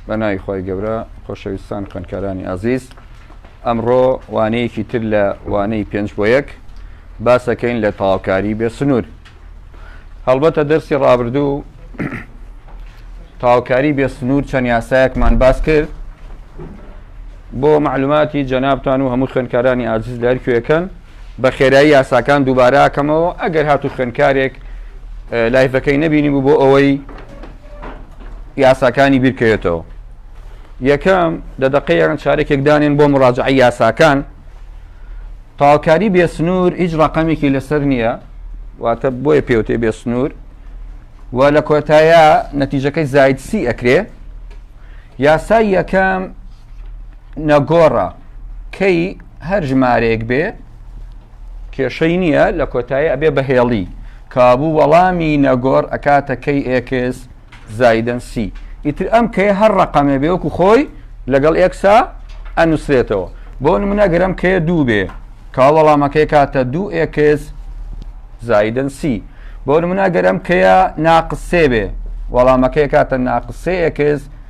بە ناوی خۆی گەورە خۆشەویستان خوێندکارانی ئازیز ئەمڕۆ وانەیەکی تر لە وانەی پێنج بۆ یەک باسەکەین لە تاوکاری بێ سنوور هەڵبەتە دەرسی ڕابردوو تاوکاری بێ سنوور چەند یاسایەکمان باس کرد بۆ معلوماتی جەنابان و هەموو خوێندکارانی ئازیز لەرکوێکەن بە خێرایی یاساکان دووبارە ئەکەمەوە ئەگەر هاتوو خوێنکارێک لایفەکەی نەبینی بوو بۆ ئەوەی یاساکانی بیرکەوێتەوە یەکەم لە دەقەیەن چارێکێک دانێن بۆ مڕاجعی یاساکان تاوکاری بێسنوور هیچ ڕقەمێکی لەسەر نییە واتە بۆیە پێوتێ بێسنوور و لە کۆتایە نەتیجەکەی زایدسی ئەکرێ یاسای یەکەم نەگۆڕە کەی هەر ژمارەیەک بێ کێشەی نییە لە کۆتایی ئەبێ بە هێڵی کابوو وەڵامی نەگۆڕ ئەکاتە کەی ئێکس زایدن سی ئیتر ئەم کەی هەر ڕقەمێ بێوەکو خۆی لەگەڵ ئێکسا ئەنووسرێتەوە بۆ نمونەگەرم کێ دوو بێ کا وەڵامەکەی کاتە دوو ئێکس زایدن سی بۆ نمونەگەرم کەیە ناقسێ بێ وەڵامەکەی کاتە ناقسێ ئێکس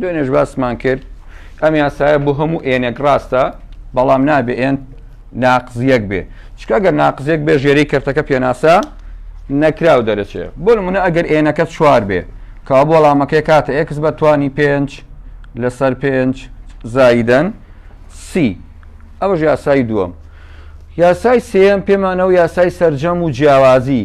دوێنێش باسمان کرد ئەم یاسایە بۆ هەموو ئێنێک ڕاستە بەڵام نابێ ئێن ناقزیەک بێ چکە گەر ناقزیەک بێ ژێری کەرتەکە پێناسە نەکراو دەرەچێ بۆ منە ئەگەر ئێنەکە چوار بێ کا بۆ ڵامەکەی کاتە ئێکس بە توانی پێنج لەسەر پێنج زایدەن سی ئەوەش یاسای دووەم یاسای سێم پێمانەوە یاسای سرجەم و جیاوازی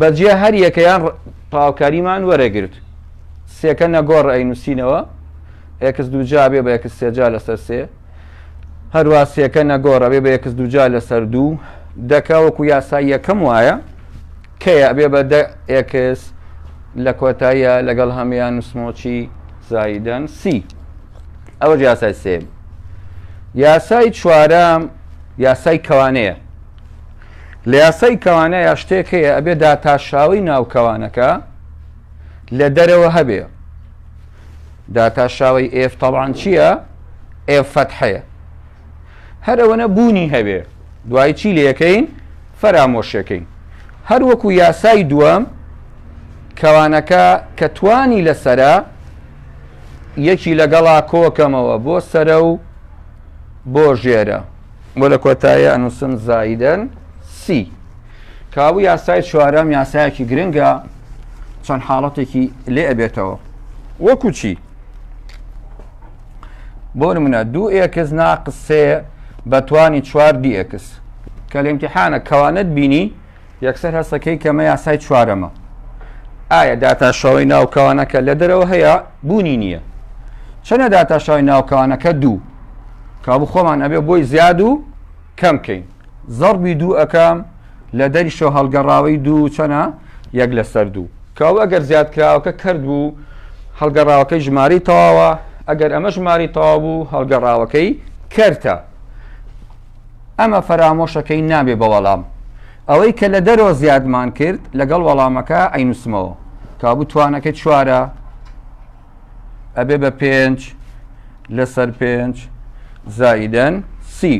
بەجێ هەر یەکەیان تەواوکاریمان وەرەگرت سێکە نەگۆڕ ئەی نووسینەوە ئێکس دووجا بێ بە ئێکس سێجا لەسەر سێ هەروە سێکە نەگۆڕە بێ بە ئێکس دووجا لەسەر دوو دەکە وەکو یاسای یەکەم وایە کەیە بێ بە دە ئێکس لە کۆتاییە لەگەڵ هەمیان نووسمۆچی زایدەن سی ئەوە یاسای سێ یاسای چوارەم یاسای کەوانەیە لە یاسای کەوانەیا شتێک هەیە ئەبێ داتاشاوی ناو کەوانەکە لە دەرەوە هەبێ داتاشاوی ئێف تەڵان چییە؟ ئێف فەتحەیە هەرەوەنە بوونی هەبێ دوای چی لەکەین فەرامۆشەکەین هەر وەکو یاسای دووەم کەوانەکە کە توانی لەسرە یەکی لەگەڵا کۆکەمەوە بۆ سرە و بۆ ژێرە بۆ لە کۆتایی ئەنووسم زایدەن سی. کابوو یاسای چوارەم یاسایەکی گرنگە چەند حاڵەتێکی لێ ئەبێتەوە وەکو چی بۆ نمونە دوو ئێکس ناقسێ بەتوانی چوار دیئکس کە لە امتحانە کەوانت بینی یەکسەر هەستەکەی کەمە یاسای چوارەمە ئایا داتاشەوەی ناوکەوانەکە لە دەرەوە هەیە بوونی نییە چەنە داتاشەوەی ناوکەوانەکە دوو کابوو خۆمان ئەبێ بۆی زیاد و کەم کەین زەڕبی دوو ئەەکەم لە دەریشەوە هەڵگەڕاوی دوو چەنە یەک لەسەر دوو کاو ئەگەر زیادکراوەکە کرد بوو هەڵگەڕاوەکەی ژماری تەواوە ئەگەر ئەمە ژماری تەوا بوو هەڵگەڕاوەکەی کەرتە ئەمە فەرامۆشەکەین نابێ بە وەڵام. ئەوەی کە لە دەرەوە زیادمان کرد لەگەڵ وەڵامەکە ئەینووسمەوە. کابوو توانەکەی چوارە ئەبێ بە پێنج لەسەر پێنج زائیدەن سی.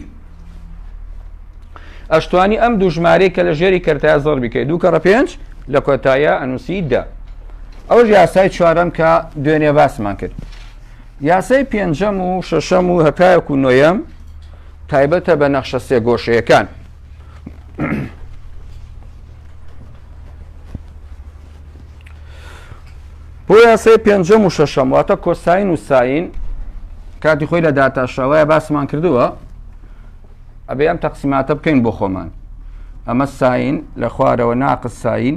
ئەشتوانی ئەم دوو ژمارەی کە لە ژێری کەرتای زۆر بکەیت دوو کەڕە پێنج لە کۆتایە ئەنووسی دە. ئەوەش یاسای چوارەم کە دوێنێ باسمان کرد. یاسای پێنجەم و شەشەم و هەتایەک و نۆیەم تایبەتە بە نەخشە سێگۆشەیەکان. بۆ یاسای پێنجەم و شەشەم واتە کۆساین و ساین کاتی خۆی لە داتاشەوەە باسمان کردووە ئەبێ ئەم تەقسیماتە بکەین بۆ خۆمان ئەمە ساین لە خوارەوە ناقساین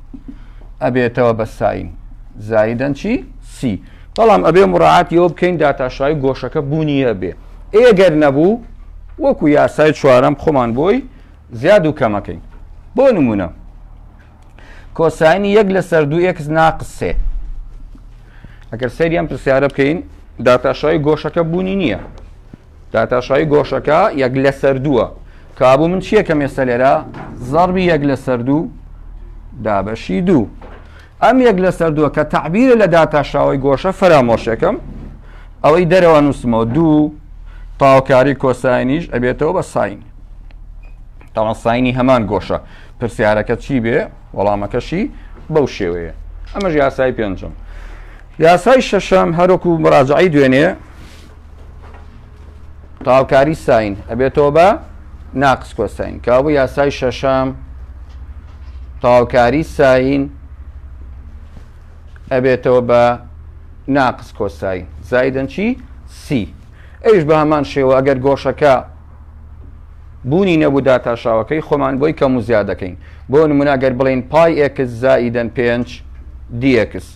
ئەبێتەوە بە ساین زایدەن چی سی بەڵام ئەبێ مڕعاتیەوە بکەین داتاشای گۆشەکە بوونیە بێ ئێگەر نەبوو وەکو یاسای چوارم خۆمان بۆی زیاد و کەمەکەین بۆ نمونە کۆسانی یەک لە سەر دوو ئکس ناقسێ ئەگەر سەریان پرسیارە بکەین داتاشای گۆشەکە بوونی نییە داتاشایی گۆشەکە یەک لەسەر دووە کابوو من چییە کەم ئێستا لێرە زەڕبی یەک لەسەر دوو دابەشی دوو ئەم یەک لەسەر دووە کە تعبیرە لە داتاشاوی گۆشە فەرامۆشەکەم ئەوەی دەرەوە نووسمەوە دوو تاوکاری کۆساینیش ئەبێتەوە بە ساین تاوان ساینی هەمان گۆشە پرسیارەکە چی بێ وەڵامەکەشی بەو شێوەیە ئەمەش یاسای پێنجم یاسای شەشەم هەرۆکو مراجعی دوێنێ تاوکاری ساین ئەبێتەوە بە ناقس کۆساین کابوو یاسای شەشەم تاوکاری ساین ئەبێتەوە بە ناقس کۆساین زایدن چی سی ئەوش بە هەمان شێوە ئەگەر گۆشەکە بوونی نەبوو داتاشاوەکەی خۆمان بۆی کەم و زیاد دەکەین بۆ نموناگەر بڵین پای ئێکس زائیدەن پێنج دیەکس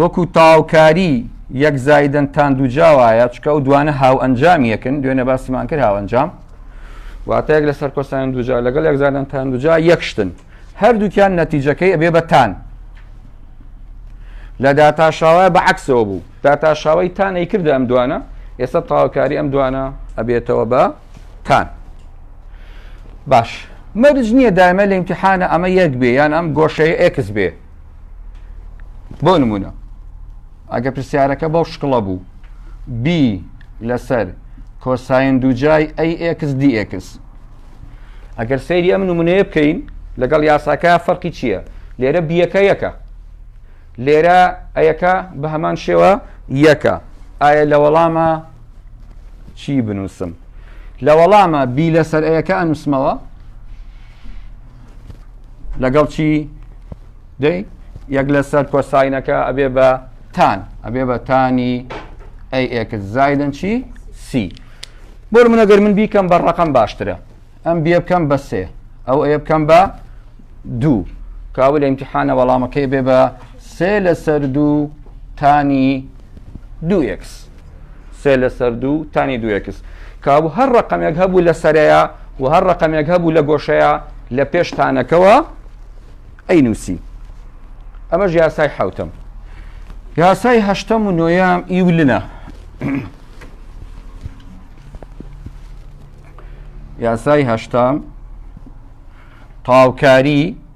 وەکو تاوکاری یەک زایدن تان دووجا وایە چکە ئەو دوانە هاوئەنجام یەکن دوێنە باسیمان کرد هاوەنجام واتەیەک لە سەرکۆسان دوجا لەگەڵ یەک زانان تان دوجا یەکشتن هەردووکیان نەتیجەکەی ئەبێ بەتان لە داتاشاوە بە عکسەوە بوو داتاشاوی تان ئەی کردە ئەم دوانە ئێستا تاوکاری ئەم دوانە ئەبێتەوە بە تان باش مەرج نییە دایمە لە امتحانە ئەمە یەک بێ یان ئەم گۆشەیە ئەکس بێ بۆ نمونە ئەگە پرسیارەکە بەو شکڵە بوو بی لەسەر کۆساین دووجای ئەیX DX ئەگەر سەیری ئەم نمونەیە بکەین لەگەڵ یاساکە فەرقی چییە لێرە بیەکە یەکە لێرە ئەیەکە بە هەمان شێوە یەکە ئایا لە وەڵامە چی بنووسم لە وەڵامە بی لەسەر ئەیەکە ئەنووسمەوە لەگەڵ چی دەی یەک لەسەر کۆساینەکە ئەبێ بە تان ئەبێ بە تانی ئەی ئێکس زایدن چی سی بۆ منەگەر من بیکەم بە ڕقم باشترە ئەم بێ بکەم بە سێ ئەو ئەیە بکەم بە دوو کاول امتحانە وەڵامەکەی بێ بە سێ لەسەر دوو تانی دوو ئێکس. سێ لەسەر دوو تانی دوو ئێکس. کەوابوو هەر ڕەقەمێک هەبوو لە سەرەیا و هەر ڕەقەمێک هەبوو لە گۆشەیا لە پێش تانەکەوە ئەینووسی. ئەمەش یاسای حەوتەم. یاسای هەشتەم و نۆیەم ئیولنە. یاسای هەشتەم تاوکاری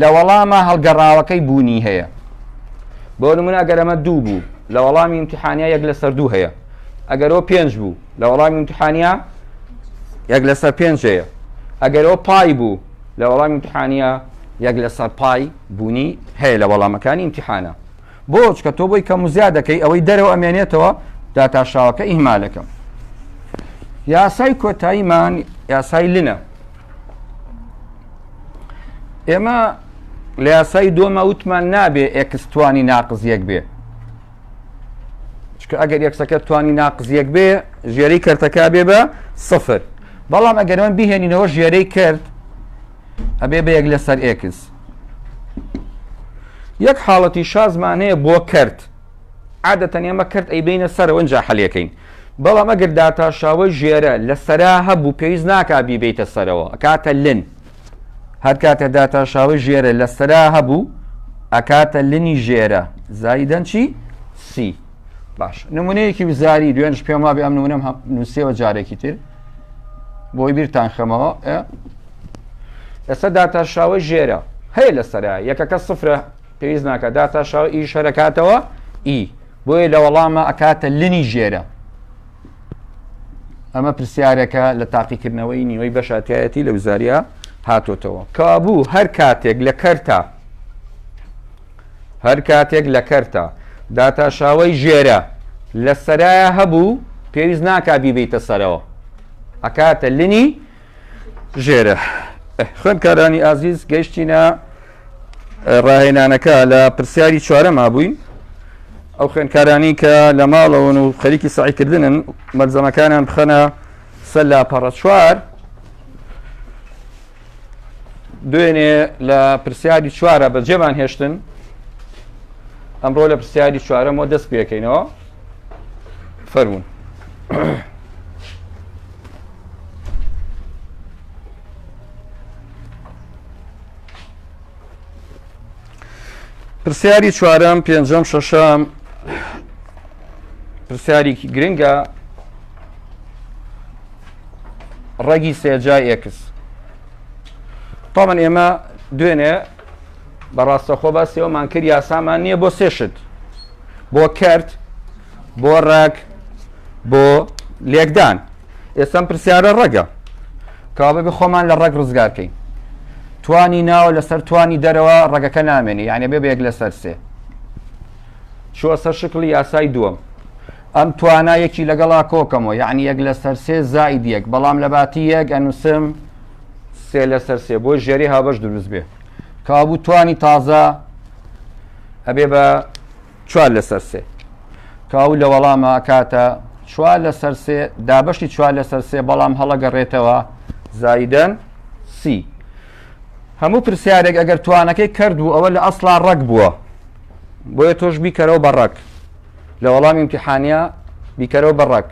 لە وەڵامە هەڵگەڕاوەکەی بوونی هەیە بۆ نمونە گەرەمە دوو بوو لە وەڵامی امتحانیا یەک لەسەر دوو هەیە ئەگەرەوە پێنج بوو لە وەڵامی امتحانیا یەک لەسەر پێنج هەیە ئەگەرەوە پای بوو لە وەڵامی امتحانیا یەک لەسەر پای بوونی هەیە لە وەڵامەکانی امتحانە بۆچ کە تۆ بۆی کەم زیاد دەکەی ئەوەی دەرەوە ئەمێنێتەوە داتاشاوەکە ئیهمالەکەم یاسای کۆتاییمان یاسای لنە ئێمە لە یاسای دۆمە وتمان نابێ ئێکستوانی ناقزیەک بێ چکە ئەگەر یەکسەکە توانی ناقزیەک بێ ژێری کردەکە بێ بە سفر بەڵام ئەگەر من بهێنینەوە ژێرەی کرد ئەبێ بە یەک لەسەر ئێکس یەک حاڵەتی شازمانەیە بۆ کرد عادەتەن ئێمە کەرت ئەیبەینە سەرەوە ئینجا حەلیەکەین بەڵام ئەگەر داتاشاوەی ژێرە لە سەرا هەبوو پێویست ناکا بیبیتە سەرەوە ئەکاتە لن هەر کاتێ داتاشاوەی ژێرە لە سەرا هەبوو ئەکاتە لنی ژێرە زایدەن چی سی باش نمونەیەکی وزاری دوێنش پێم وابێ ئەم نمونەم نووسەوە جارێکی تر بۆی بیرتان خەمەوە ئێستا داتاشاوەی ژێرە هەیە لە سەرا یەکەکە سفرە پێویست ناکات داتا شاو ئی شەرەکاتەوە ئی بۆیە لە وەڵامە ئەکاتە لنی ژێرە ئەمە پرسیارەکە لە تاقیکردنەوەی نیوەی بەشاتایەتی لە وزاریا هاتۆتەوە کابوو هەر کاتێک لە کەرتا هەر کاتێک لە کەرتا داتا شاوەی ژێرە لە سەرایە هەبوو پێویست ناکا بیبیتە سەرەوە ئەکاتە لنی ژێرە خوێندکارانی ئازیز گەشتینە ڕاهێنانەکە لە پرسیاری چوارەما بووین ئەو خوێندکارانی کە لە ماڵەوەن و خەریکی سعیکردنن مەلزەمەکانیان بخەنە سەر لاپەڕە چوار دوێنێ لە پرسیاری چوارە بە جێمان هێشتن ئەمڕۆ لە پرسیاری چوارەمەوە دەست پێکەینەوە فەرمونون پرسیاری چوارەم پێنجەم شەشەم پرسیارێکی گرنگە ڕەگی سێجای ئێکس تامان ئێمە دوێنێ بەڕاستەخۆ بە سێوەمان کرد یاسامان نییە بۆ سێشت بۆ کرد بۆ ڕێک بۆ لێکدان ئێستا ئەم پرسیارە ڕەگە کابێ بە خۆمان لە ڕەگ ڕزگار کەین توانی ناوە لەسەر توانی دەرەوە ڕەگەکە نامێنی یعنی بێ بەیەک لەسەر سێ چوە سەر شکلی یاسای دووەم ئەم توانا یەکی لەگەڵا کۆکەمەوە یعنی یەک لەسەر سێ زائید یەک بەڵام لە باتی یەک ئەنووسم سێ لەسەر سێ بۆ ژێری هابش دروست بێ کابوو توانی تازە ئەبێ بە چوار لەسەر سێ. کە ئەو لە وەڵاما ئەکاتە چوار لەسەر سێ، دابەشی چوار لەسەر سێ بەڵام هەڵەگەڕێتەوە زایدەن سی. هەموو پرسیارێک ئەگەر توانەکەی کەرت بوو ئەوە لە ئەسڵا ڕەگ بووە. بۆیە تۆش بیکەرەوە بە ڕەگ. لە وەڵامی امتحانیا بیکەرەوە بە ڕەگ.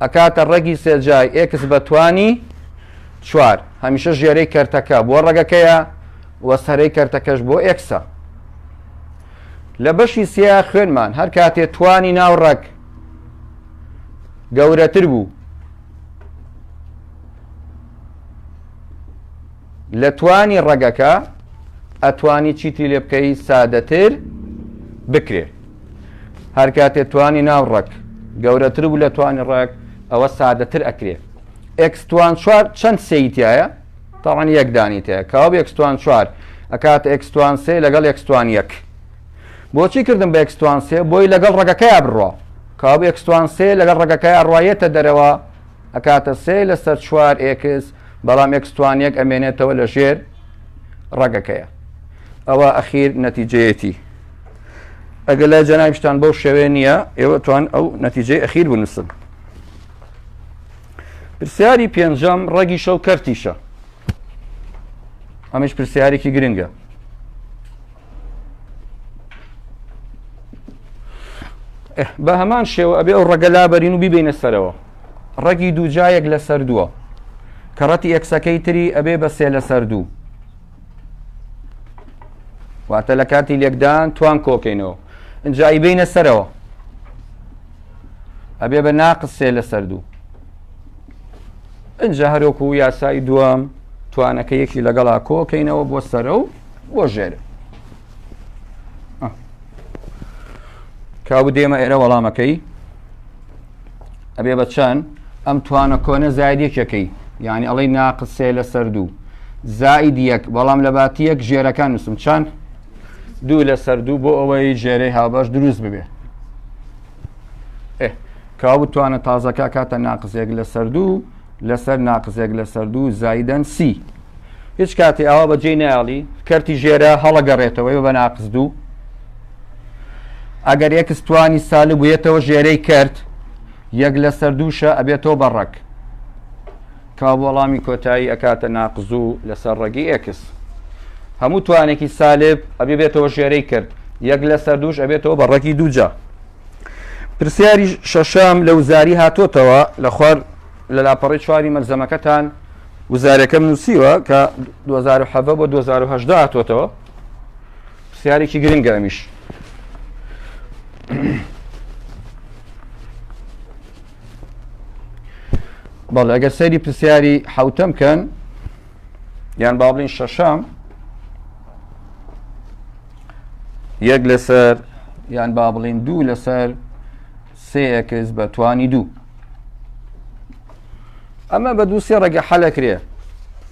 ئەکاتە ڕەگی سێجای ئێکس بە توانی چوار. هەمیشە ژێرەی کەرتەکە بۆ ڕەگەکەیە وە سەرەی کەرتەکەش بۆ ئێکسە. لە بەشی سێ خوێنمان هەر کاتێ توانی ناو ڕەگ گەورەتر بوو لە توانی ڕەگەکە ئەتوانی چیتری لێ بکەی سادەتر بکرێ هەر کاتێ توانی ناو ڕەک گەورەتر بوو لە توانی ڕەک ئەوە سادەتر ئەکرێ ئەکسوان چوار چەند سیتایە تەبعەن یەک دانی تێ کاو بە ئێکس توان چوار ئەکاتە ئێکس توان سێ لەگەڵ ئێکس توان یەک بۆچی کردم بە ئێکس توان سێ بۆی لەگەڵ ڕەگەکەیا بڕۆ کاو بە ئێکس توان سێ لەگەڵ ڕەگەکەیا ڕایەتە دەرەوە ئەکاتە سێ لەسەر چوار ئێکس بەڵام ئێکس توان یەک ئەمێنێتەوە لە ژێر ڕەگەکەیە ئەوە ئەخیر نەتیجەیەتی ئەگەر لای جەنابشتان بەو شێوێ نییە ئێوە توان ئەو نەتیجەی ئەخیر بنووسن پرسیاری پێنجەم ڕەگی شەو کەرتیشە ئەمەش پرسیارێکی گرنگە بە هەمان شێوە ئەبێ ئەو ڕەگە لابەرین و بیبینە سەرەوە ڕەگی دوو جایەک لە سەر دووە کە ڕەتی ئەکسەکەی تری ئەبێ بە سێ لە سەر دوو واتە لە کاتی لێکدان توان کۆکەینەوە ئەجایی بینە سەرەوە ئەبێ بە ناقس سێ لەسەر دوو ئەجا هەرۆکو و یاسایی دووەم توانەکە یەکی لەگەڵا کۆکەینەوە بۆ سەرە و بۆ ژێر کاو دێمە ئێرە وەڵامەکەی ئەبێ بە چەند ئەم توانە کۆنە زاید یەکەکەی یعنی ئەڵی ناقسێ لەسەر دوو زائید یەک بەڵام لە باتی یەک ژێرەکان نووسم چەند دوو لەسەر دوو بۆ ئەوەی ژێرەی هاوبەش دروست ببێ کاو بتوانە تازەکە کاتە ناقزێک لەسەر دوو لەسەر ناقزێک لەسەر دوو زایدەن سی هیچ کاتی ئاوا بە جێی ناڵی کەرتی ژێرە هەڵەگەڕێتەوەی بە ناقز دوو ئەگەر یەکستوانی سالب بوویەتەوە ژێرەی کرد یەک لەسەر دووشە ئەبێتەوە بە ڕەک کاو وەڵامی کۆتایی ئەکاتە ناقزو لەسەر ڕەگی ئێکس هەموو توانێکی سالب ئەبێ بێتەوە ژێرەی کرد یەک لەسەر دووش ئەبێتەوە بە ڕەگی دووجا پرسیاری شەشەم لە وزاری هاتۆتەوە لە خوار لە لاپەڕی چواری مەلزەمەکەتان وزارەکەم نووسیوە کە 2007 بۆ 2010 هاتۆتەوە پرسیارێکی گرنگە ئەمیش بەڵێ ئەگەر سەیری پرسیاری حوتەم کەن یان باڵین شەشەم یەک لەسەر یان با بڵین دوو لەسەر سێکس بە توانی دوو ئەمە بە دوو سێ ڕێگە حەلەکرێ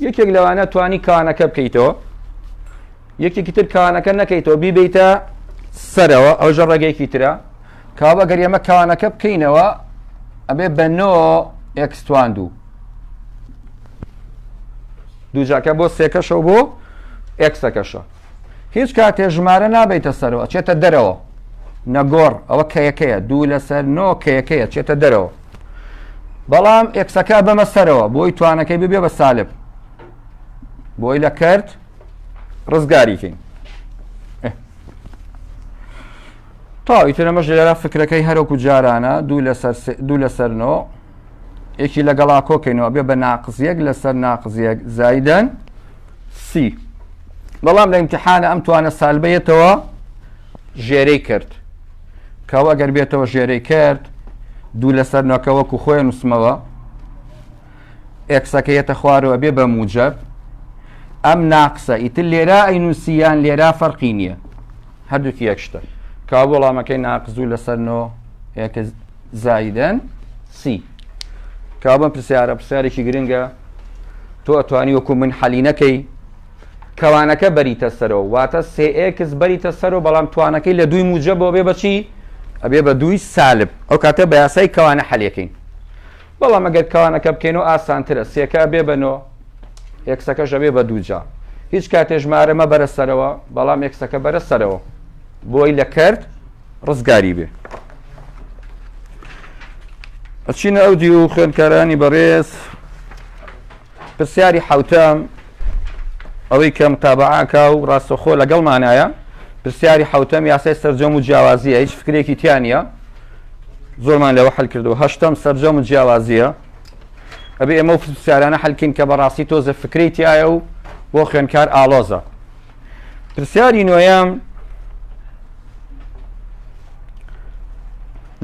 یەکێک لەوانە توانی کانەکە بکەیتەوە یەکێکی تر کانەکە نەکەیتەوە بیبیتە سەرەوە ئەوژە ڕێگەیەکی ترە کەوابە گەر ئێمە کەوانەکە بکەینەوە ئەبێ بە نۆ ئێکس توان دوو دووجاکە بۆ سێکەشەوە بۆ ئێکسەکەشە هیچ کاتێ ژمارە نابیتە سەرەوە چێتە دەرەوە نەگۆڕ ئەوە کەیەکەیە دوو لەسەر نۆ کەیەکەیە چێتە دەرەوە بەڵام ئێکسەکە بەمە سەرەوە بۆی توانەکەی ببێ بە سالب بۆی لە کرد ڕزگاریکەین تەواو ئیتر ئەمەش لێرە فکرەکەی هەر وەکو جارانە دوو لەسەر سێ دوو لەسەر نۆ یەکی لەگەڵا کۆکەینەوە بێ بە ناقز یەک لەسەر ناقز یەک زایدەن سی بەڵام لە ئیمتحانە ئەم توانە سالبەیەتەوە ژێرەی کرد کەەوە ئەگەر بێتەوە ژێرەی کرد دوو لەسەر نۆکە وەکو خۆی نووسمەوە ئێکسەکەیەتە خوارەوە بێ بە موجب ئەم ناقسە ئیتر لێرا ئەی نووسیان لێرا فەرقی نییە هەردووکی یەک شتن کاو وەڵامەکەی ناقزوو لەسەر نۆ یەکە زایدەن سی کاو بەم پرسیارە پرسیارێکی گرنگە تۆ ئەتوانی وەکو من حەلی نەکەی کەوانەکە بەریتە سەرەوە واتە سێکس بەریتە سەرەوە بەڵام توانەکەی لە دووی موجە بۆ بێ بەچی ئەبێ بە دووی سالب ئەو کاتە بە یاسای کەوانە حەلەکەین بەڵام ئەگەر کانەکە بکەینەوە ئاسانترە سێکە ئەبێ بە نۆ ئێکسەکەش ئەبێ بە دوو جا هیچ کاتێ ژمارە مەبەرە سەرەوە بەڵام ئێکسەکە بەرە سەرەوە بۆی لە کەرت ڕزگاری بێ ئەچینە ئەو دی و خوێندکارانی بەڕێز پرسیاری حوتەم ئەوەی کە متابعاکە و ڕاستەخۆ لەگەڵمانایە پرسیاری حوتەم یاسای سەررجەم و جیاوازیە هیچ فکرێکی تیانە زۆرمان لەوە حل کردو هەشتم سەررجەم و جیاوازیە ئەبێ ئێمە و پرسیارانە حلکەین کە بەڕاستی تۆزە فکری تایە و بۆ خوێنکار ئالۆزە پرسیاری نوۆیەم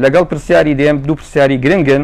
لەگەڵ پرسیاری دێم دوو پرسیاری گرنگن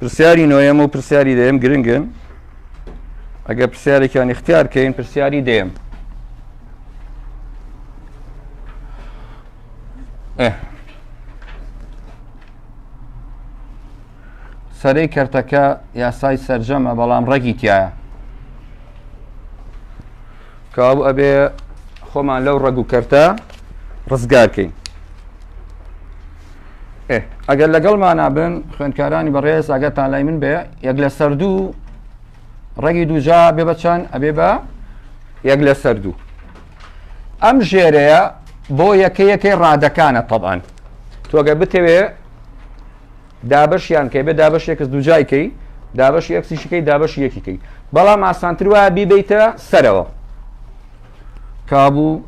پرسیاری نۆیەم و پرسیاری دەیەم گرنگن ئەگەر پرسیارێکیان اختیار کەین پرسیاری دێم سەرەی کەرتەکە یاسای سرجەمە بەڵام ڕێکی تایە کەوابوو ئەبێ خۆمان لەو ڕەگ و کەرتە ڕزگارکەین ئەگەر لەگەڵمانە بن خوێندکارانی بەڕێز ئەگەر تا لای من بێ یەک لە سەردوو ڕەگی دوجا بێ بە چەند ئەبێ بە یەک لە سەردوو ئەم ژێرەیە بۆ یەکە یەکەی ڕادەکانە تەبان تۆگە بتەوێ دابەش یان کەی بێ دابەش ئێکس دووجای کەی دابەشی ئێکسیشی کەی دابەشی یەکی کەی بەڵام ئاسانتر وایە بیبیتە سەرەوە کابوو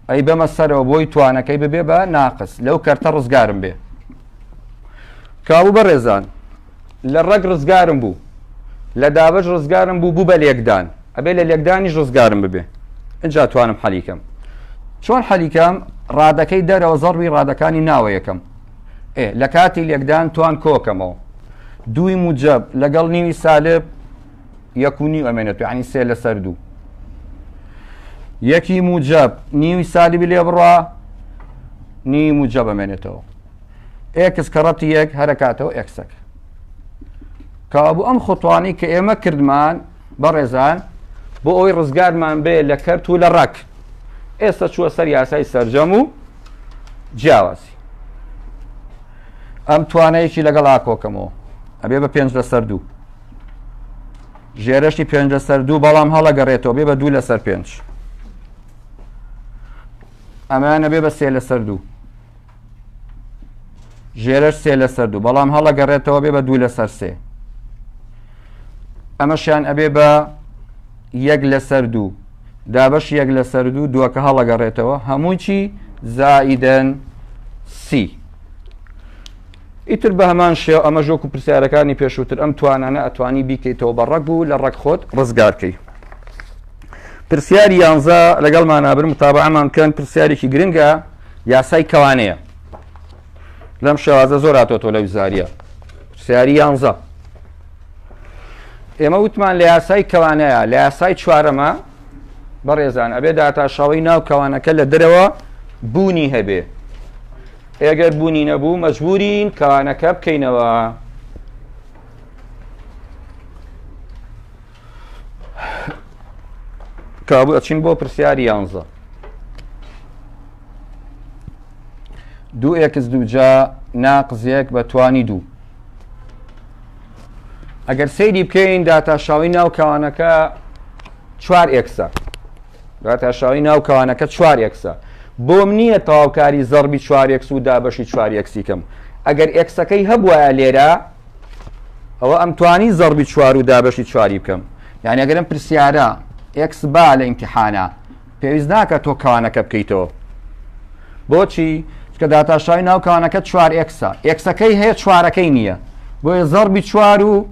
ئەی بەمە سەرەوە بۆی توانەکەی ببێ بە ناقس لەو کەرتە ڕزگارم بێ کابوو بەڕێزان لە ڕەگ ڕزگارم بوو لە دابەش ڕزگارم بوو بوو بە لێکدان ئەبێ لە لێکدانیش ڕزگارم ببێ ئەجا توانم حەلیکەم چۆن حەلیکەم ڕادەکەی دەرەوە زەڕوی ڕادەکانی ناوە یەکەم ئێ لە کاتی لێکدان توان کۆکەمەوە دووی موجب لەگەڵ نیوی سالب یەکونی ئەمێنێت ینی سێ لەسەر دوو یەکی موجب نیوی سالبی لێ بڕە نی موجب ئەمێنێتەوە ئێکس کەڕەتی یەک هەرەکاتەوە ئێکسەکە کابوو ئەم خوتوانی کە ئێمە کردمان بەڕێزان بۆ ئەوی ڕزگارمان بێ لە کەرت و لە ڕەک ئێستا چووە سەر یاسای سرجەم و جیاوازی ئەم توانەیەکی لەگەڵ ئاکۆکەمەوە ئەبێ بە پێنج لەسەر دوو ژێرەشتی پێنج لەسەر دوو بەڵام هەڵەگەڕێتەوە بێ بە دوو لەسەر پێنج ئەمانە بێ بە سێ لەسەر دوو ژێرەش سێ لەسەر دوو بەڵام هەڵەگەڕێتەوە بێ بە دوو لەسەر سێ ئەمەشیان ئەبێ بە یەک لەسەر دوو دابش یەک لەسەر دوو دووەکە هەڵەگەڕێتەوە هەمووی چی زائیدەن سی ئیتر بە هەمان شێو ئەمە ژۆک و پرسیارەکانی پێشووتر ئەم توانانە ئەتوانی بیکەیتەوە بە ڕەگ و لە ڕەگ خۆت ڕزگارکەی پرسیاری یانزە لەگەڵ مانابرم تابعمان بکەن پرسیارێکی گرنگە یاسای کەوانەیە لەم شێوازە زۆر هاتۆتۆ لە وزاریە سیاری یانزە ئێمە وتمان لە یاسای کەوانەیە لە یاسای چوارەمە بەڕێزان ئەبێ داتاشاوی ناو کەوانەکە لە درەوە بوونی هەبێ ئێگەر بوونی نەبوو مەجبورین کەوانەکە بکەینەوە کابو ئەچین بۆ پرسیاری یانزە دوو ئێکس دووجا ناقزیەک بە توانی دوو ئەگەر سەیری بکەین داتاشاوی ناو کەوانەکە چوار ئێکسە داتاشاوی ناو کەوانەکە چوار ئێکسە بۆم نییە تەواوکاری زەڕبی چوارێکس و دابەشی چوارێکسی کەم ئەگەر ئێکسەکەی هەبواە لێرە ئەوە ئەم توانی زەڕبی چوار و دابەشی چواری بکەم یعنی ئەگەرم پرسیارە ئەکس با لە ئیمتحانە پێویست ناکە تۆ کەوانەکە بکەیتەوە بۆچی کە داتاشای ناو کەوانەکە چوار ئەکسە ئەکسەکەی هەیە چوارەکەی نییە بۆیە زەڕبی چوار و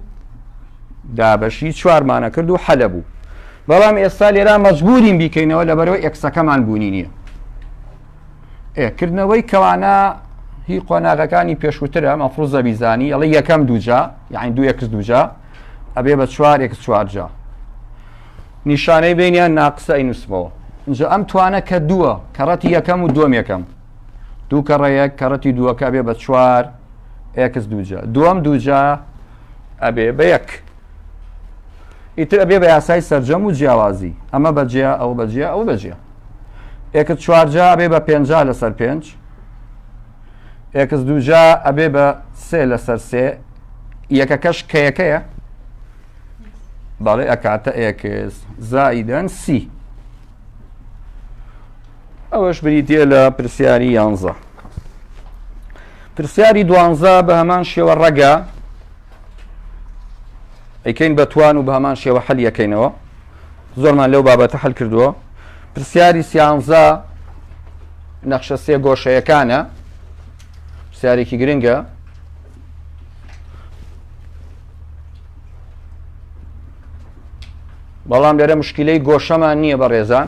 دابەشی چوارمانە کرد و حەلە بوو بەڵام ئێستا لێرا مەجبورین بیکەینەوە لەبەرەوە ئەکسەکەمان بوونی نییە ئێ کردنەوەی کەوانە هی قۆناغەکانی پێشووترە مەفروز زەبیزانی ئەڵە یەکەم دووجا یاعین دوو یەکس دووجا ئەبێ بە چوار یەکس چوارجا نیشانەی بینیان ناقسە ئینوسمەوە اینجا ئەم توانە کە دووە کەڕەتی یەکەم و دوم یەکەم دوو کەڕەیەک کەڕەتی دووەکە بێ بە چوار ئەکس دووجا دوم دووجا ئەبێ بە یەک ئیتر ئەبێ بە یاسای سەرجەم و جیاوازی ئەمە بەجیا ئەو بەجیا ئەو بەجیا ئێکت چوارجا ئەبێ بە پێنجا لەسەر پێنج ئێکس دووجا ئەبێ بە سێ لەسەر سێ یەکەکەش کەیەکەیە بەڵێ ئەکاتە ئێکس زایدەن سی ئەوەش بریتە لە پرسیاری یانزە پرسیاری دوانزە بە هەمان شێوە ڕەگە ئەیکەین بە توان و بە هەمان شێوە حەل یەکەینەوە زۆرمان لەو بابەتە حل کردووە پرسیاری سیانزە نەخشە سێ گۆشەیەکانە پرسیارێکی گرنگە بەڵام لێرە مشکلەی گۆشەمان نییە بە ڕێزان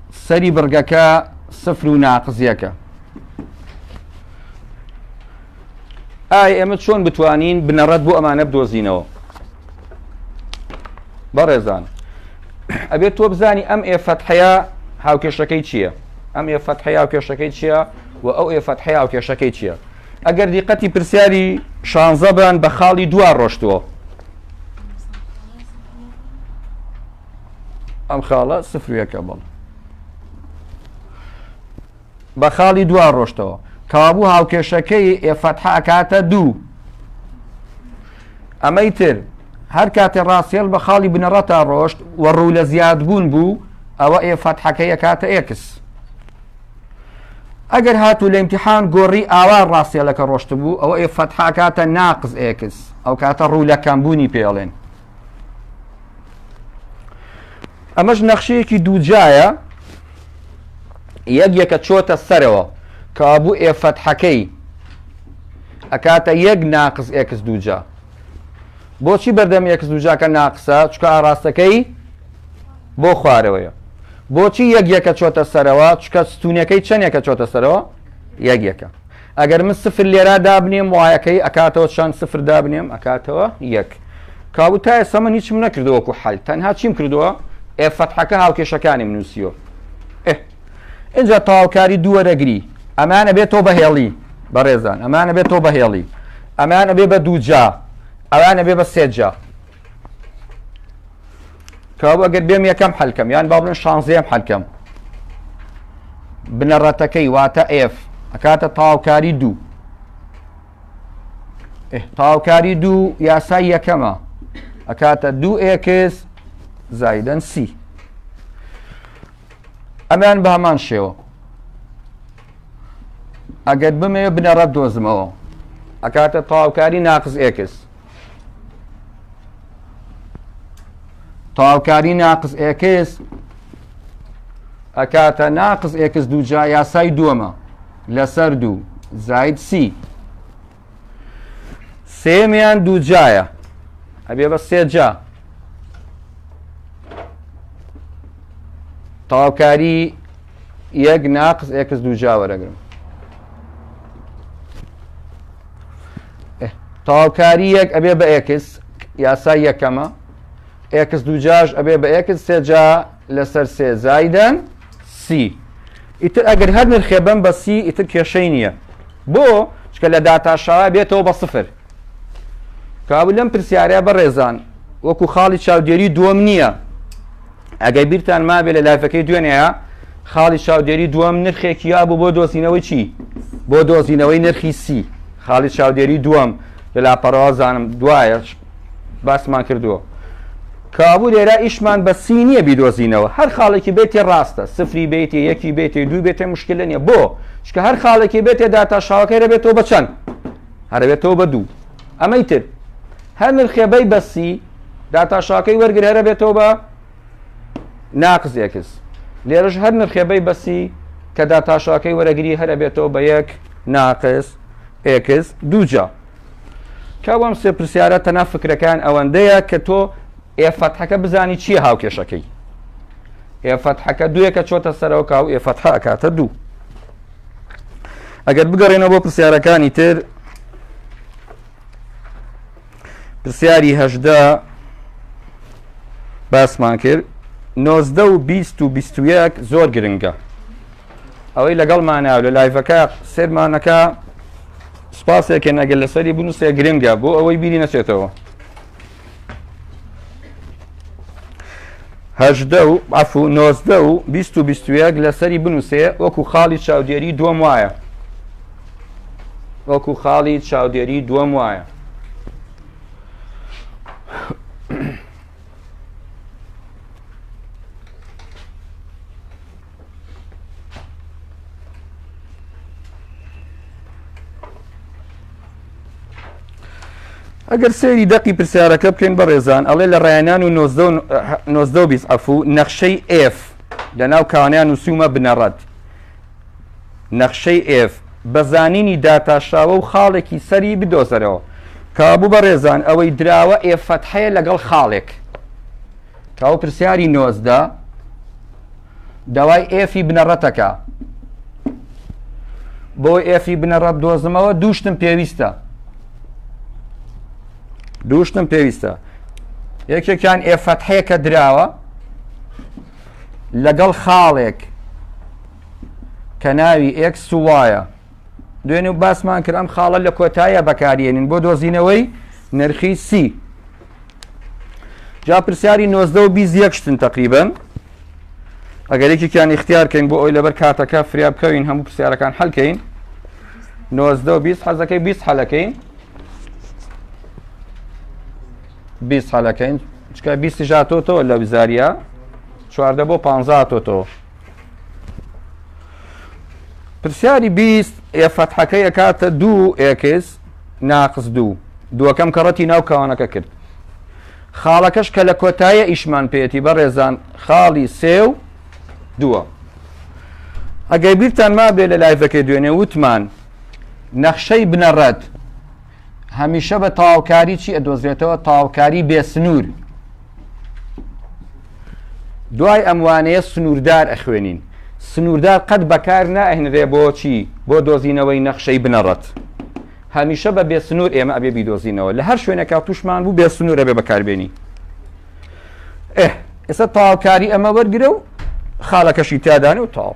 سەری بڕگەکە سفر و ناقز یەکە ئای ئێمە چۆن بتوانین بنەڕەت بۆ ئەمانە بدۆزینەوە بەڕێزان ئەبێت تۆ بزانی ئەم ئێ فەتحەیە هاوکێشەکەی چییە ئەم ئێ فەتحەیە هاوکێشەکەی چییە و ئەو ئێ فەتحەیە هاوکێشەکەی چییە ئەگەر دیقەتی پرسیاری شانزەبان بە خاڵی دوا ڕۆشتووە ئەم خاڵە سفر و یەکە بەڵ بە خاڵی دوا ڕۆشتەوە کابوو هاوکێشەکەی ئێفەتح ئەکاتە دوو ئەمەی تر هەر کاتێ ڕاستێل بە خاڵی بنەڕەتا ڕۆشت و ڕوو لە زیاد بوون بوو ئەوە ئێفەتحەکەی ئەکاتە ئێکس ئەگەر هاتوو لە امتحان گۆڕی ئاوا ڕاستێلەکە ڕۆشت بوو ئەوە ئێفەتحاکاتە ناقز ئێکس ئەو کاتە ڕوو لە کەمبوونی پێڵێن ئەمەش نەخشەیەکی دووجایە یەک یەکە چۆتە سەرەوە کابوو ئێ فەتحەکەی ئەکاتە یەک ناقز ئێکس دووجا بۆچی بەردەم ئێکس دووجاکە ناقسە چکە ئاراستەکەی بۆ خوارەوەیە بۆچی یەک یەکە چۆتە سەرەوە چکە ستونەکەی چەندێکە چۆتە سەرەوە یەک یەکە ئەگەر من سفر لێرا دابنێم وایەکەی ئەکاتەوە چەند سفر دابنێم ئەکاتەوە یەک کابو تا ئێستا من هیچم نەکردوەکو حل تەنها چیم کردووە ئێ فەتحەکە هاوکێشەکانیم نووسیۆ ئجا تاوکاری دووەرەگری ئەمانە بێت تۆ بەهێڵی بەڕێزان ئەمانە بێت تۆ بەهێڵی ئەمانە بێ بە دووجا ئەوانە بێ بە سێجا کەوابوو ئەگەر بێم یەکەم حەلکەم یان با بڵێن شانزەیەم حەلکەم بنەڕەتەکەی واتە ئف ئەکاتە تاوکاری دوو تاوکاری دوو یاسای یەکەمە ئەکاتە دوو ئێکس زایدەن سی ئەمان بە هەمان شێوە ئەگەر بمەوێ بنەڕەت دۆزمەوە ئەکاتە تاوکاری ناقز ئێکس تەواوکاری ناقز ئێکس ئەکاتە ناقز ئێکس دووجا یاسای دووەمە لەسەر دوو زاید سی سێمیان دووجایە ئەبێ بە سێجا تەواوکاری یەک ناقز ئێکس دووجا وەرەگرم ئه. تەواوکاری یەک ئەبێ بە ئێکس یاسای یەکەمە ئێکس دووجاش ئەبێ بە ئێکس سێجا لەسەر سێ زایدەن سی ئیتر ئەگەر هەر نرخێ بم بە سی ئیتر کێشەی نییە بۆ چکە لە داتاشاوا بێتەوە بە سفر کابل لەم پرسیارە بەڕێزان وەکو خاڵی چاودێری دووەم نییە ئەگەر بیرتان مابێ لە لایفەکەی دوێنێیا خاڵی چاودێری دووەم نرخێکی یا بوو بۆ دۆزینەوەی چی بۆ دۆزینەوەی نرخی سی خاڵی چاودێری دووەم لە لاپەڕەوە زانم دوایە باسمان کردووە کابوو لێرا ئیشمان بە سی نییە بیدۆزینەوە هەر خاڵێکی بێتێ ڕاستە سفری بێتی یەکی بێتی دوو بێتێ مشکلە نیە بۆ چکە هەر خاڵێکی بێتێ داتا شاوەکەی دەبێتەوە بە چەند هەربێتەوە بە دوو ئەمەی تر هەر نرخێبەی بەسی داتا شاکەی وەرگر هەرە بێتەوە بە ناقز ئێکس لێرەش هەر نرخێ بەی بەسی کە داتا شاکەی وەرەگری هەرە بێتەوە بە یەک ناقز ئێکس دووجا کاوام سێ پرسیارە تەنا فکرەکان ئەوەندەیە کە تۆ ئێفەتحەکە بزانی چییە هاوکێشەکەی ئێفەتحەکە دوێکە چۆتە سەرەوە کاو ئێفەتحە ئەکاتە دوو ئەگەر بگەڕێنەوە بۆ پرسیارەکانی تر پرسیاری هەژدە باسمان کرد نۆزدە و بیست و بیست و یەک زۆر گرنگە ئەوەی لەگەڵ ماناو لە لایڤەکە سێرمانەکە سپاسێکە نەگەل لەسەری بنووسێ گرنگە بۆ ئەوەی بیری نەچێتەوە هەژدە و عفو نۆزدە و بیست و بیست و یەک لەسەری بنووسێ وەکو خاڵی چاودێری دووەم وایە وەکو خاڵی چاودێری دووەم وایە ئەگەر سێری دەقی پرسیارەکە بکەین بە ڕێزان ئەڵێ لە ڕایەنان و 1920 ئەفو نەخشەی ئف لە ناو کانیان و سوومە بنەڕەت نەخشەی ئێڤ بە زانینی داتاشراوە و خاڵێکی سەری بدۆزەرەوە. کابو بەڕێزان ئەوەی دراوە ئێڤ فەتحەیە لەگەڵ خاڵێک. کاو پرسیاری نۆزدە داوای ئێفی بنەڕەتەکە بۆ ئێفی بنەڕەت دۆزمەوە دووشتم پێویستە دووشتم پێویستە یەکێکیان ئێفەتحەیە کە دراوە لەگەڵ خاڵێک کە ناوی ئێکس و وایە دوێنێ و باسمان کرد ئەم خاڵە لە کۆتایە بەکارێنین بۆ دۆزینەوەی نرخی سی جا پرسیاری نۆزدە و بیست یەکشتن تقریبن ئەگەر یەکێکیان اختیارکەین بۆ ئەوی لەبەر کاتەکە فریا بکەوین هەموو پرسیارەکان حەلکەین نۆزدە و بیست حەزەکەی بیست حەلەکەین بیست حەلەکەین چکە بیستی ژاتۆ تۆ لە بزاریە چواردە بۆ پ تۆ تۆ پرسیاری بیست ئێ فەتحەکە یەکاتە دوو ئێکس ناقس دوو دووەکەم کەڕەتی ناو کاوانەکە کرد خاڵەکەش کە لە کۆتایە ئیشمان پێێتی بەڕێزان خاڵی سێ و دووە ئەگەر بیرتان ما بێ لە لایڤەکەی دوێنێ وتمان نەخشەی بنەڕەت هەمیشە بە تەواوکاری چی ئەدۆزرێتەوە تەواوکاری بێ سنوور دوای ئەموانەیە سنووردار ئەخوێنین سنووردار قەت بەکار ناهێنرێ بۆچی بۆ دۆزینەوەی نەخشەی بنەڕەت هەمیشە بە بێ سنوور ئێمە ئەبێ بیدۆزینەوە لە هەر شوێنەکە توشمان بوو بێ سنوورە بێ بەکاربیێنی ئێستا تاوکاری ئەمە وەرگرە و خاڵەکەشی تادانێ و تاو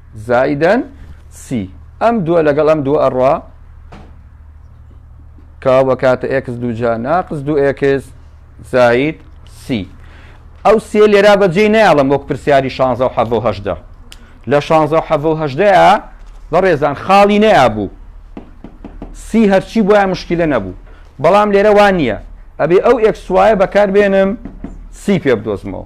زائیدەن سی ئەم دووە لەگەڵ ئەم دوو ئەڕوا کاو بەکاتە ئێکس دووجا ناقز دوو ئێکس زایت سی ئەو سێ لێرا بەجێ نایڵم وەک پرسیاری شانزە و حەڤ و هەشدا لە شانزە و حەڤ و هەشدەیە بەڕێزان خاڵی نەیا بوو سی هەرچی بۆیان مشکلە نەبوو بەڵام لێرە وان نییە ئەبێ ئەو ئێکسوایە بەکاربێنم سی پێ بدۆزمەوە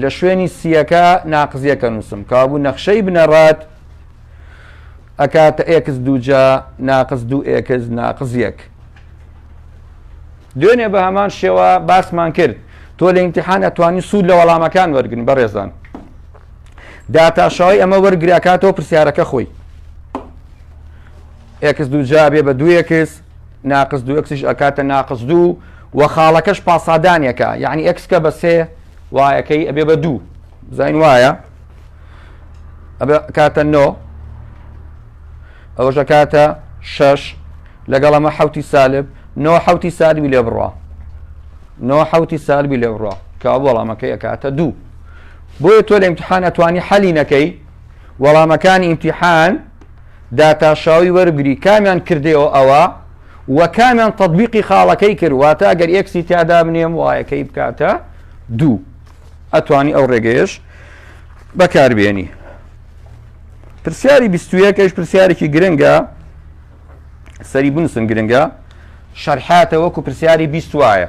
لە شوێنی سییەکە ناقزییەکە نووسم، کەوابوو نەخشەی بنەڕەت ئەکاتە ئێکس دووجا ناقز دوو ئێکس ناقز یەک. دوێنێ بە هەمان شێوە باسمان کرد تۆ لە ئیمتحان ئەتوانی سوود لە وەڵامەکان وەرگن بەڕێزان داتاشەوەی ئەمە وەرگراکاتەوە پرسیارەکە خۆی ئێکس دووجا بێ بە دووەکس ناقس دوو ئێکسیش ئەکاتە ناقس دوو و خاڵەکەش پاسادانێکە یعنی ئێکسکە بە سێ وایەکەی ئەبێ بە دوو زین وایە ئەبێ کاتە نۆ ئەوەشە کاتە شەش لەگەڵ ئەمە حوتی سالب نۆ حوتی سالبی لێ بڕە نۆ حوتی سالبی لێ بڕە کە وەڵامەکەی ئەکاتە دوو بۆیە تۆ لە امتحان ئەتوانی حەلی نەکەی وەڵامەکانی امتحان داتاشاوی وەربگری کامیان کردەوە ئەوە و کامیان تەطبیقی خاڵەکەی کرد واتە گەر ئێکسی تیادا بنێم وایەکەی بکاتە دوو ئەتوانی ئەو ڕێگەیش بەکاربیێنی پرسیاری بیستویەکەش پرسیارێکی گرنگە سەری بنووسن گرنگە شەرحاتە وەکو پرسیاری بیست وایە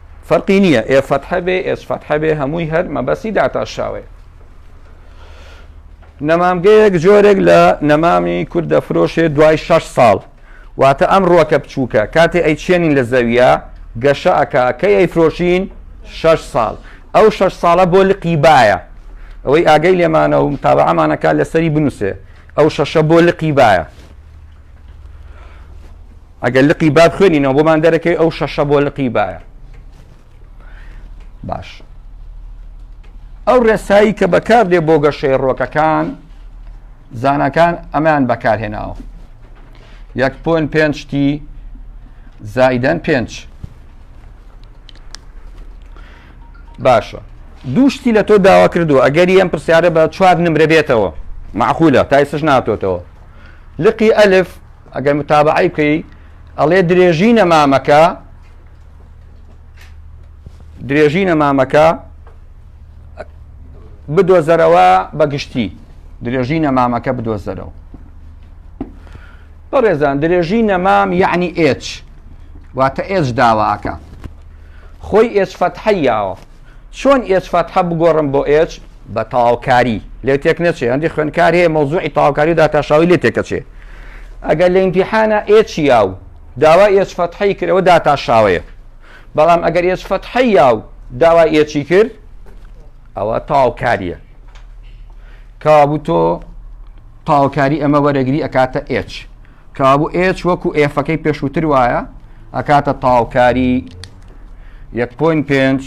فەرقی نیە ئێ فەتحە بێ ئێس فەتحە بێ هەمووی هەر مەبەستی داتاشاوەیە. نەمامگەیەک جۆرێک لە نەمامی کورد دەفرۆشێ دوای شەش ساڵ واتە ئەم ڕووەکە بچووکە کاتێ ئەی چێنین لە زەویە گەشە ئەکا کەی ئەی فرۆشین شەش ساڵ ئەو شەش ساڵە بۆ لقی باە ئەوەی ئاگەی لێمانە و تاوەعمانەکە لەسەری بنووسێ ئەو شەشە بۆ لقی باە ئەگەر لقی باب خوێنینەوە بۆمان دەرەکەی ئەو شەشە بۆ لقی باە باش ئەو ڕێسایی کە بەکار دێ بۆ گەشەی ڕۆکەکان زانکان ئەمان بەکارهێناوە یەک پۆن پێنجتی زایدەن پێنج باشە دووشتی لە تۆ داوا کردو ئەگەری ئەم پرسیارە بە چوار نمرە بێتەوە معقولە تایسش ناتۆتەوە لقی ئەلف ئەگەر متابەعەی بکەی ئەڵێ درێژی نەمامەکە درێژی نەمامەکە بدۆزەرەوە بە گشتی درێژی نەمامەکە بدۆزەرەوە بەڕێزان درێژی نەمام یعنی ئێچ واتە ئێچ داواکە خۆی ئێچ فەتحەیاوە چۆن ئێچ فەتحە بگۆڕم بۆ ئێچ بە تەواوکاری لێ تێک نەچێ هەندی خوێنکار هەیە مەوزوعی تەواوکاری و داتاشاوی لێ تێکەچێ ئەگەر لە ئیمتیحانە ئێچ یاو داوا ئێچ فەتحەی کرەوە داتاشاوەیە بەڵام ئەگەر ئێچ فەتحە یاو داوا ئێچی کرد ئەوە تەواوکاریە کەوابوو تۆ تەواوکاری ئەمە وەرەگری ئەکاتە ئێچ کەوابوو ئێچ وەکو ئێفەکەی پێشووتر وایە ئەکاتە تاوکاری یەک پوین پێنج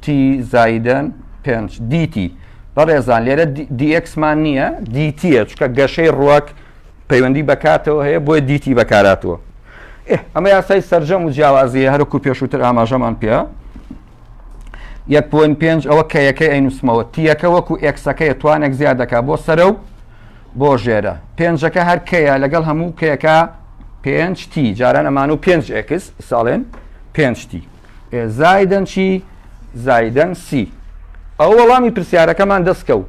تی زایدن پێنج دیتی بەڕێزان لێرە دیەکسمان نییە دیتیە چکە گەشەی ڕوەک پەیوەندی بەکاتەوە هەیە بۆی دیتی بەکاراتوە ئەمە یاسای سرجەم و جیاوازیە هەرکو پێشووتر ئاماژەمان پێ یەک پوین پێنج ئەوە کە یەکەی ئەینوسمەوە تیەکە وەکو ئەکسەکەی توانێک زیادەکە بۆ سەرە و بۆ ژێرە پێنجەکە هەر کەیە لەگەڵ هەموو کەیەکە پێنج تی جاران ئەمان و پێنج ئێکس ساڵێن پێنج تی زایدن چی زایدن سی ئەو وەڵامی پرسیارەکەمان دەستکە و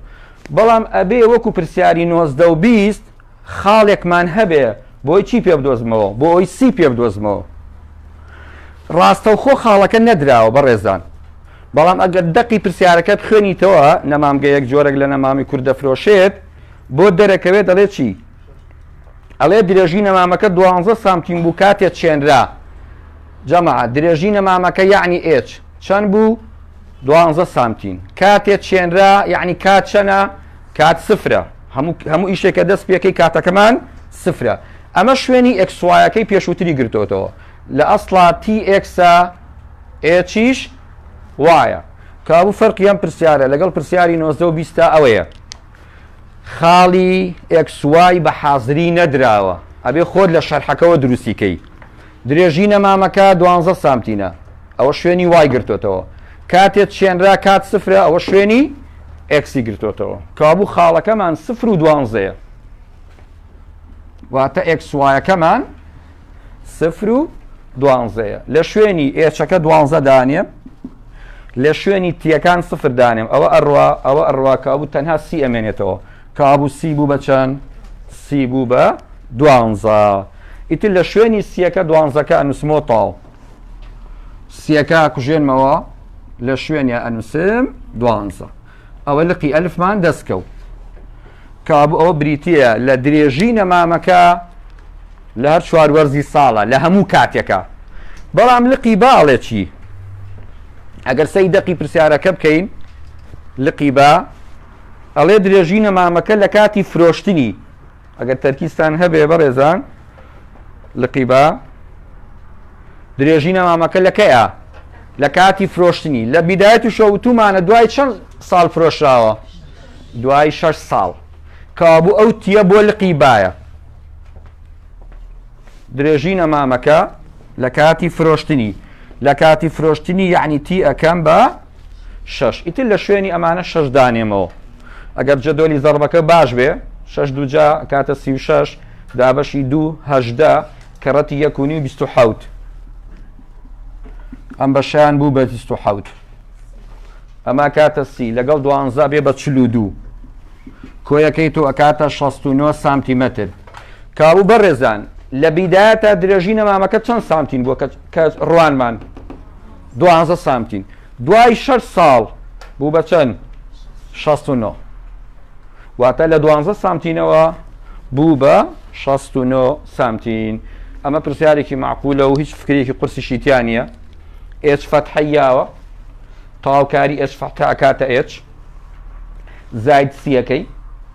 بەڵام ئەبێ وەکو پرسیاری نۆزدە و بیست خاڵێکمان هەبێ بۆی چی پێ بدۆزمەوە بۆ ئەوی سی پێ بدۆزمەوە ڕاستەوخۆ خاڵەکە نەدراوە بەڕێزان بەڵام ئەگەر دەقی پرسیارەکە بخوێنیتەوە، نەمامگەیەک جۆرێک لە نەمامی کورد دەفرۆشێت، بۆت دەرەکەوێت دەڵێت چی؟ ئەڵێت درێژی نەمامەکە دوانزە سانتیم بوو کاتێ چێنرا. جەماعەت درێژی نەمامەکە یەعنی ئێچ چەند بوو؟ دوانزە سانتیم. کاتێ چێنرا یەعنی کات چەنە؟ کات سفرە. هەموو ئیشێکە دەست پێکەی کاتەکەمان سفرە. ئەمە شوێنی ئێکس وایەکەی پێشووتری گرتۆتەوە. لە ئەسڵا تی ئێکسە ئێچیش وایە. کابوو فەرقی ئەم پرسیارە لەگەڵ پرسیاری نۆزدە و بیستە ئەوەیە خاڵی ئێکس وای بە حازری نەدراوە ئەبێ خۆت لە شەرحەکەوە دروستی کەی درێژی نەمامەکە دوانزە سامتینە ئەوە شوێنی وای گرتۆتەوە کاتێت چێنرا کات سفرە ئەوە شوێنی ئێکسی گرتۆتەوە کابوو خاڵەکەمان سفر و دوانزەیە واتە ئێکس وایەکەمان سفر و دوانزەیە لە شوێنی ئێچەکە دوانزە دانێ لە شوێنی تیەکان سفر دانێم ئەوە ئەڕوا ئەوە ئەڕوا کابوو تەنها سی ئەمێنێتەوە کابوو سی بوو بەچەند سی بوو بە دوانزە ئیتر لە شوێنی سیەکە دوانزەکە ئەنووسمۆ تاو سیەکە کوژێنمەوە لە شوێنە ئەنووسم دوانزە ئەوە لقی ئەلفمان دەستکەوت. کەوابوو ئەوە بریتییە لە درێژی نەمامەکە لە هەر چوار وەرزی ساڵە لە هەموو کاتێکە بەڵام لقی با ئەڵێکی ئەگەر سەی دەقی پرسیارەکە بکەین لقی با ئەڵێ درێژی نەمامەکە لە کاتی فرۆشتنی ئەگەر تەرکیزتان هەبێ بەڕێزان لقی بە درێژی نەمامەکە لە کەیە لە کاتی فرۆشتنی لە بیدایەت و شەوتومانە دوای چەند ساڵ فرۆشراوە دوای شش ساڵ کابوو ئەو تیە بۆ لقی باە درێژی نەمامەکە لە کاتی فرۆشتنی لە کاتی فرۆشتنی یعنی تی ئەەکەم بە شەش ئیتر لە شوێنی ئەمانە شەش دانێمەوە ئەگەر جەدۆلی زەڕبەکە باش بێ شەش دووجا کاتە سی و شەش دابەشی دوو هەشدە کەڕەتی یەکونی و بیست و حوت ئەم بەشیان بوو بە بیست و حوت ئەما کاتە سی لەگەڵ دوانزا بێ بە چلو دوو کۆیەکەی تۆ ئەکاتە 16 سانتیمەتر کابوو بەڕێزان لە بیداە تا درێژی نەمامەکە چەند سانتین بووە کە ڕوانمان دوازدە سانتیم دوای شەش ساڵ بوو بە چەند شەست و نۆ واتە لە دوازدە سانتینەوە بوو بە شەست و نۆ سانتین ئەمە پرسیارێکی معقولە و هیچ فکرێکی قورسیشی تیا نییە ئێچ فەتحەیاوە تەواوکاری ئێچ فەتح ئەکاتە ئێچ زاید سیەکەی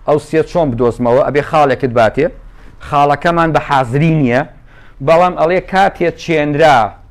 ئەو سێ چۆن بدۆزمەوە ئەبێ خاڵێکت باتێ خاڵەکەمان بە حازری نییە بەڵام ئەڵێ کاتێ چێنرا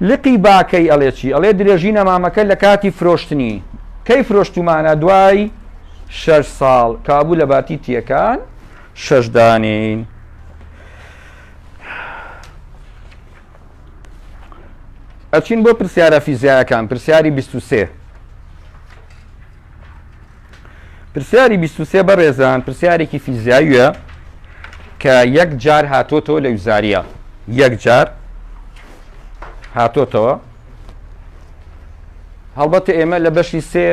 لقی باکەی ئەڵێ چی؟ ئەڵێ درێژی نەمامەکە لە کاتی فرۆشتنی. کەی فرۆشتومانە دوای شەش ساڵ کابوو لە باتی تیەکان شەش دانین. ئەچین بۆ پرسیارە فیزیایەکان پرسیاری 23. پرسیاری بیست و سێ بەڕێزان پرسیارێکی فیزیاویە کە یەک جار هاتۆتەوە لە وزاریە یەک جار هاتۆتەوە هەڵبەتە ئێمە لە بەشی سێ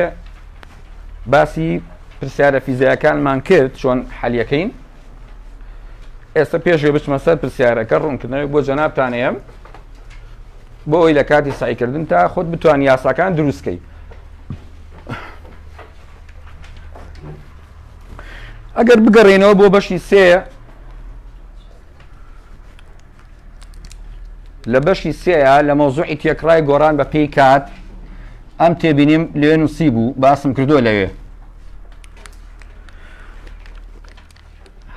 باسی پرسیارە فیزیاکانمان کرد چۆن حەلیەکەین ئێستا پێشێ بچمە سەر پرسیارەکە ڕوونکردنەوەی بۆ جەنابتانەیەم بۆ ئەوی لە کاتی سایکردن تا خۆت بتوان یاساکان دروستکەی ئەگەر بگەڕێنەوە بۆ بەشی سێ لە بەشی سێە لە مەوزوعی تێکڕای گۆران بە پێی کات ئەم تێبینیم لێن و سی بوو باسم کردو لەوێ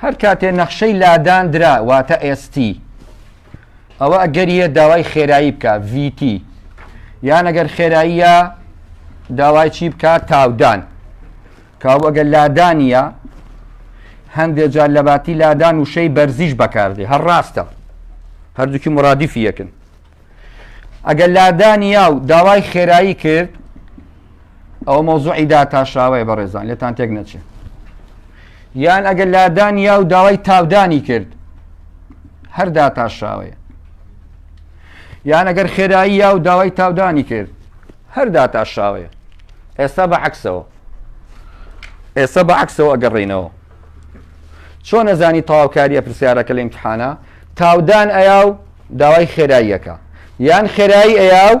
هەر کاتێ نەخشەی لادان درا واتە ئێستی ئەوە ئەگەریە داوای خێرایی بکە VT یان ئەگەر خێراییە داوای چی بکە تاودان کاو ئەگەر لادانە هەندێک جار لە باتی لادان وشەی بەرزیش بەکاردێ هەر ڕاستە هەردووکی مرادیفی یەکن ئەگەر لادانیا و داوای خێرایی کرد ئەوە مەوزوعی داتاشاوەیە بەڕێزان لێتان تێک نەچێت یان ئەگەر لادان یا و داوای تاودانی کرد هەر داتاشاوەیە یان ئەگەر خێرایی یا و داوای تاودانی کرد هەر داتاشاوەیە ئێستا بە عکسەوە ئێستا بە عکسەوە ئەگەڕینەوە چۆن نەزانی تەواوکاریە پرسیارەکە لە امتحانە تاودان ئەیا و داوای خێراییەکە یان خێرایی ئەیا و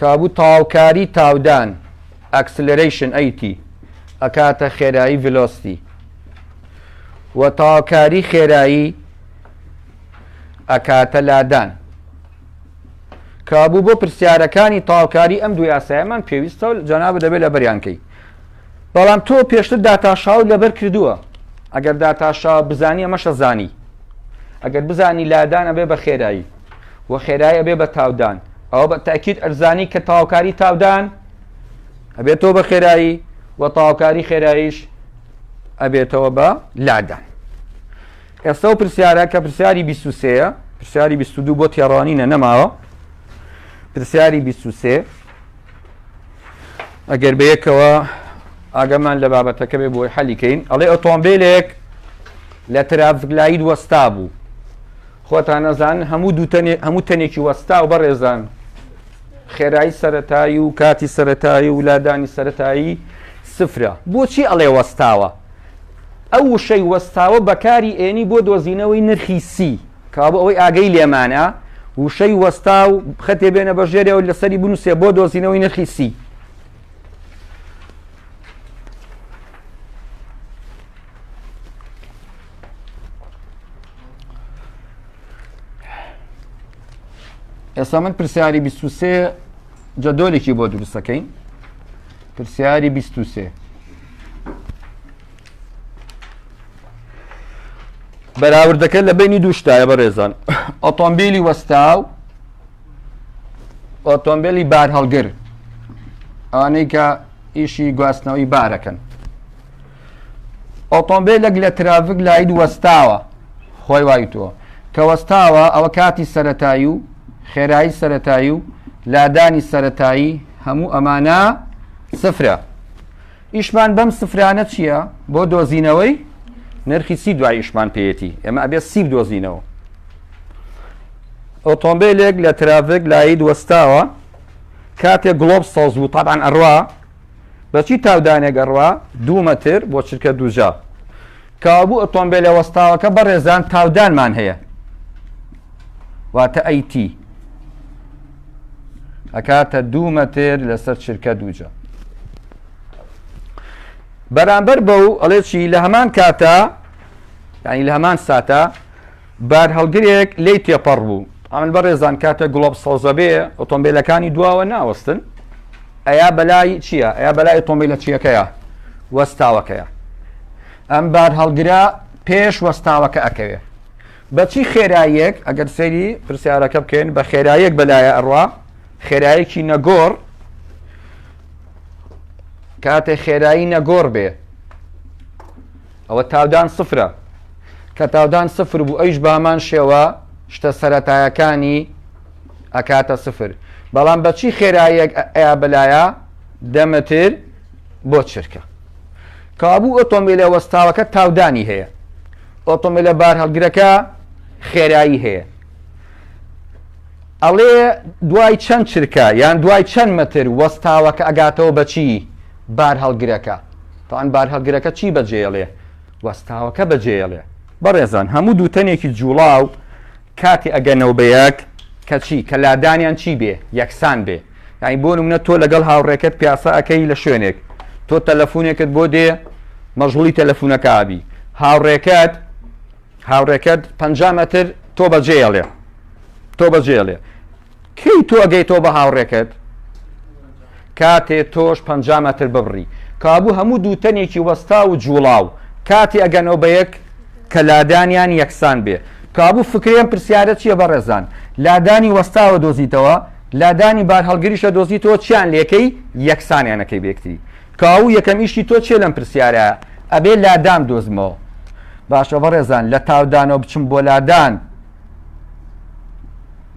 کابوو تاوکاری تاودان، Acceleration، ەیتی ئەکاتە خێرایی، Velocity، و تاوکاری خێرایی ئەکاتە لادان. کابوو بۆ پرسیارەکانی تاوکاری ئەم دوو یاسایەمان پێویستە و جەنابت دەبێت لەبەریان کەی. بەڵام تۆ پێشتر داتاشاوت لەبەر کردووە. ئەگەر داتاشا بزانی ئەمەشە زانی. ئەگەر بزانی لادان ئەبێ بە خێرایی و خێرایی ئەبێ بە تاودان. ئەوە بە تەئکید ئەرزانی کە تەواوکاری تاودان ئەبێتەوە بە خێرایی و تەواوکاری خێراییش ئەبێتەوە بە لادان ئێستا و پرسیارە کە پرسیاری 23 پرسیاری 22 بۆ تێڕوانینە نەماوە پرسیاری 23 ئەگەر بەیەکەوە ئاگەمان لە بابەتەکە بێ بۆی حەلیکەین ئەڵێ ئۆتۆمبیلێک لە ترافزگلایید وەستا بوو خۆتان ئەزانن هەموو دوو تەنێ هەموو تەنێکی وەستاو بەڕێزان خێرایی سەرەتایی و کاتی سەرەتایی و لادانی سەرەتایی سفرە بۆچی ئەڵێ وەستاوە ئەو وشەی وەستاوە بەکاری ئێنی بۆ دۆزینەوەی نرخی سی کابوو ئەوەی ئاگەی لێمانە وشەی وەستا و خەتێ بێنە بە ژێرێ و لەسەری بنووسێ بۆ دۆزینەوەی نرخی سی ئێستا من پرسیاری 23 جەدۆلێکی بۆ دروستەکەین پرسیاری 23 بەراوردەکە لە بینی دووشتایە بە ڕێزان ئۆتۆمبیلی وەستاو ئۆتۆمبیلی بار هەڵگر ئەوانەی کە ئیشی گواستنەوەی بارەکەن ئۆتۆمبێلەک لە ترافک لایت وەستاوە خۆی وای تۆ کە وەستاوە ئەوە کاتی سەتایی و خێرایی سەتایی و لادانی سەتایی هەموو ئەمانە سفرە ئیشمان بەم سفرانە چییە بۆ دۆزینەوەی نرخی سی دوای ئیشمان پێەتی ئێمە ئەبێت سی دۆزینەوە ئۆتۆمبیلێک لە ترافێک لایید وەستاوە کاتێک گڵۆب سەوز بوو تاان ئەڕوا بە چی تاودانێک ئەڕوا دوو مەتر بۆ چرکە دووجا کابوو ئۆتۆمبیلە وەستاوەکە بەڕێزان تاودانمان هەیە واتە ئەیتی ئەکاتە دوو مەتر لەسەر چرکە دووجا بەرامبەر بە و ئەڵێکی لە هەمان کاتە ینی لە هەمان ساتە بارهەڵگرێک لێی تێپەڕ بوو. ئامین بەڕێزان کاتێک گڵۆپ سەوزەبێ ئۆتۆمبێلەکانی دواوە ناوەستن ئەیا بەلای چییە ئەیا بەلای ئۆتۆمبیلە چیەکەیە وەستاوەکەیە ئەم بارهەڵگرە پێش وەستاوەکە ئەکەوێ بەچی خێراییەک ئەگەر سەیری پرسیارەکە بکەین بە خێراییەک بەلایە ئەڕوا خێرایەکی نەگۆڕ کاتێ خێرایی نەگۆڕ بێ ئەوە تاودان سفرە. کە تاودان سفر بوو ئەویش بەهەمان شێوە شتە سەرەتایەکانی ئەکاتە سفر. بەڵام بەچی خێراییەک ئەیا بەلایە دە مەتر بۆ چرکە. کابوو ئۆتۆمبیلە وەستاوەکە تاودانی هەیە. ئۆتۆمبیلە بارهەڵگرەکە خێرایی هەیە. ئەڵێ دوای چەند چرکە یان دوای چەند مەتر وەستاوەکە ئەگاتەوە بەچی؟ بارهەڵگرەکە، تەبعەن بارهەڵگرەکە چی بەجێیەڵێ؟ وەستاوەکە بەجێیەڵێ. بەڕێزان هەموو دووتەنێکی جووڵاو کاتێ ئەگەنەوە بە یەک کە چی؟ کە لادانیان چی بێ؟ یەکسان بێ. یانی بۆ نموونە تۆ لەگەڵ هاوڕێکەت پیاسە ئەکەی لە شوێنێک، تۆ تەلەفوونێکت بۆ دێ مەژووڵی تەلەفوونەکە ئەبی، هاوڕێکەت هاوڕێکەت پەنجا مەتر تۆ بەجێیەڵێ تۆ بەجێیەڵێ. کەی تۆ ئەگەیتەوە بە هاوڕێکەت کاتێ تۆش پ مەتر ببڕی کابوو هەموو دووتەنێکی وەستا و جوڵاو کاتی ئەگەنەوە بە یەک کە لادانیان یەکسان بێ کابوو فکرێن پرسیارە چییە بە ڕێزان لادانی وەستاوە دۆزیتەوە لادانی بار هەڵگریشە دۆزیتەوە چیان لەکەی یەکسانیانەکەی بێکتی کاو یەکەم ئیشی تۆ چێ لەم پرسیارە ئەبێ لادان دۆزمەوە باشە بەڕێزان لە تاودانەوە بچم بۆ لادان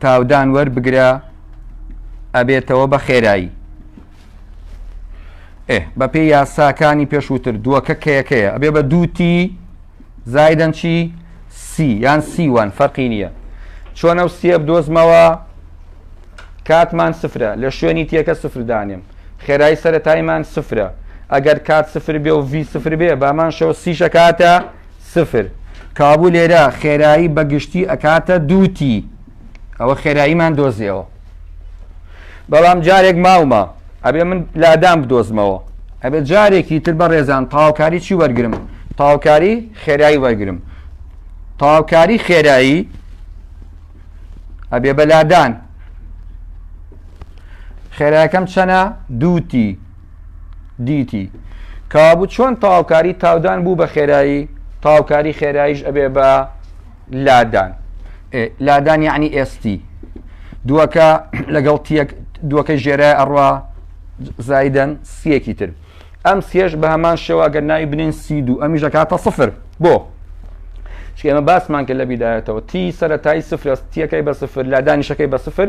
تاودان وەربگرە ئەبێتەوە بە خێرایی ئێ بەپێی یاساکانی پێشووتر دووەکە کەیەکەیە ئەبێ بە دووتی زایدەن چی سی یان سیوان فەرقی نییە چۆنە و سیە بدۆزمەوە کاتمان سفرە لە شوێنی تێکە سفردانێم خێرای سەرەتایمان سفرە ئەگەر کات سفر بێ و ڤی سفر بێ بامان شەوە سیشە کاتە سفر، کابوو لێرە خێرایی بە گشتی ئەکاتە دوو تی، ئەوە خێراییمان دۆزیەوە، بەڵام جارێک ماومە ئەبێ من لادان بدۆزمەوە، ئەبێ جارێکی تر بەڕێزان تەواوکاری چی وەرگرم؟ تەواوکاری خێرایی وەرگرم، تەواوکاری خێرایی ئەبێ بە لادان، خێرایەکەم چەنە؟ دوو تی. دیتی کابوو چۆن تەواوکاری تاودان بوو بە خێرایی تاوکاری خێراییش ئەبێ بە لادان لادان یعنی ئێستی دووەکە لەگەڵ دووەکە ژێرە ئەڕوا زایدەن سیەکی تر ئەم سێش بە هەمان شێوا گەر ناوی بنێن سی دوو ئەمیش دەکاتە سفر بۆ چێمە باسمان کە لە بیدایەتەوە تی سەرەتای سفرەستیەکەی بە سفر لادانیشەکەی بە سفر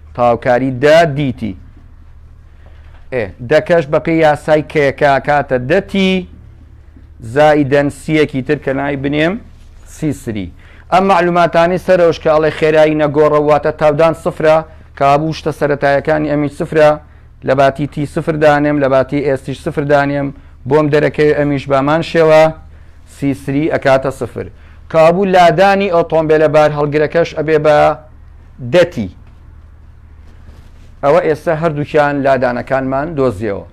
تەواوکاری دە دیتی ئێ دە کەش بەپێی یاسای کەیەکە کاتە دە تی زائیدەن سیەکی تر کە ناوی بنێم سی سری ئەم معلوماتانی سەرەوش کە ئەڵێ خێرایی نەگۆڕە واتە تاودان سفرە کابوو شتە سەتایەکانی ئەمی سفرە لە باتی تی سفر دانێم لە باتی ئێستیش سفر دانێم بۆم دەرەکەوێ ئەمیش بامان شێوە سی سری ئەکاتە سفر کابوو لادانی ئۆتۆمبیلە بار هەڵگرەکەش ئەبێ بە دەتی. ئەوە ئێستا هەردووکیان لادانەکانمان دۆزیەوە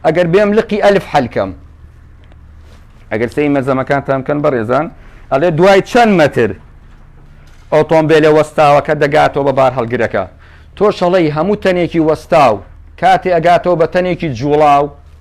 ئەگەر بێم لقی ئەلف حەل کەم. ئەگەر سەی مەزەمەکانتان بکەن بەڕێزان ئەڵێ دوای چەند مەتر ئۆتۆمبیلە وەستاوەکە دەگاتەوە بە بارهەڵگرەکە تۆ شەڵەی هەموو تەنێکی وەستاو کاتێ ئەگاتەوە بە تەنێکی جوڵاو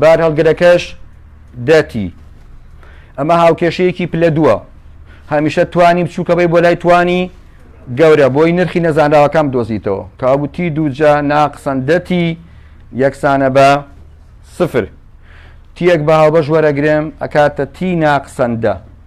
بارهەڵگرەکەش دە تی. ئەمە هاوکێشەیەکی پلە دووە هەمیشە توانی بچووکەبەی بۆ لای توانی گەورە بۆی نرخی نەزانراوەکەم دۆزیتەوە کاوتی دووجا ناقسەن دەتی یەکسانە بە سفر تیەک بە هاوبەش وەرەگرێم ئەکاتە تی ناقسەندە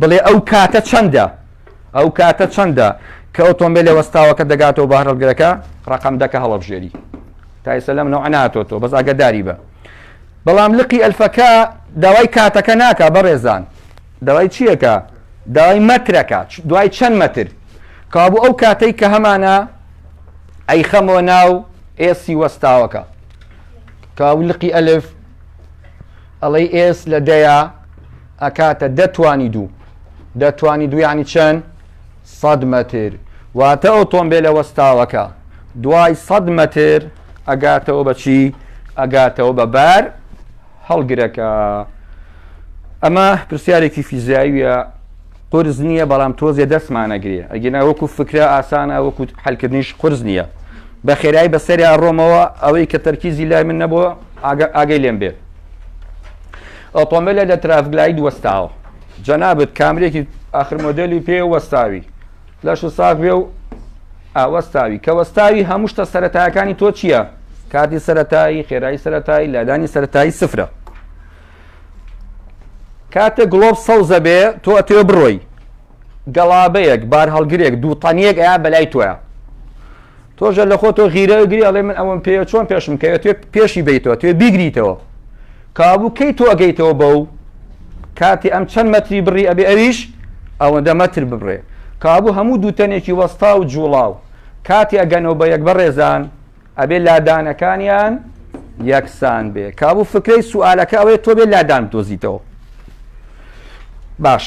بڵێ ئەو کاتە چەندە؟ ئەو کاتە چەندە کە ئۆتۆمبیلە وەستاوەکە دەگاتەوە بە هەرڵگرەکە ڕقم دەکە هەڵەبژێری تایسە لەم نەوە ناتۆتۆ بەس ئاگەداری بە بەڵام لقی ئەلفەکە داوای کاتەکە ناکە بەڕێزان داوای چیەکە داوای مەترەکە دوای چەند مەتر کابوو ئەو کاتەی کە هەمانە ئەی خەمەوە ناو ئێسی وەستاوەکە کاولقی ئەلف ئەڵەی ئێس لە دەیە ئەکاتە دە توانی دوو. دە توانی دوو یانی چەند؟ سەد مەتر. واتە ئۆتۆمبێلە وەستاوەکە دوای سەد مەتر ئەگاتەوە بە چی؟ ئەگاتەوە بە بار هەڵگرەکە. ئەمە پرسیارێکی فیزیاییە قرس نییە بەڵام تۆزێ دەستمانەگرێ ئەگینا وەکو فکرە ئاسانە وەکو حلکردنیش قرس نییە بە خێرایی بەسەریا ڕۆمەوە ئەوەی کە تەرکیزی لای من نەبووە ئاگەی لێم بێت ئۆتۆمبێلێ لە ترافک لایت وەستاوە جەنابت کامریەکی ئاخر مۆدێلی پێ وەستاوی لەش و ساغ بێ و ئاوەستاوی کە وەستاوی هەموو شتە سەرەتایەکانی تۆ چییە کاتی سەتایی خێرایی سەتایی لادانی سەتایی سفرە کاتە گڵۆب سەوزە بێ تۆ ئەتێ بڕۆی گەڵابەیەک بار هەڵگرێک دوو تەنیەک ئەیا بەلای تۆە تۆش لە خۆ تۆ غیرە ئەگری ئەڵێ من ئەوەم پێیە چۆن پێشم کەوێت توێ پێشی بیتەوە توێ بیگریتەوە کابوو کەی تۆ ئەگەیتەوە بەو کاتی ئەم چەند مەتری بڕی ئەبێ ئەویش ئەوەندە مەتر ببڕێ کابوو هەموو دووتەنێکی وەستا و جوڵاو کاتی ئەگەنەوە بە یەک بەڕێزان ئەبێ لادانەکانیان یەکسان بێ کابوو فکرەی سوالەکە ئەوەیە تۆ بێ لادان بدۆزیتەوە باش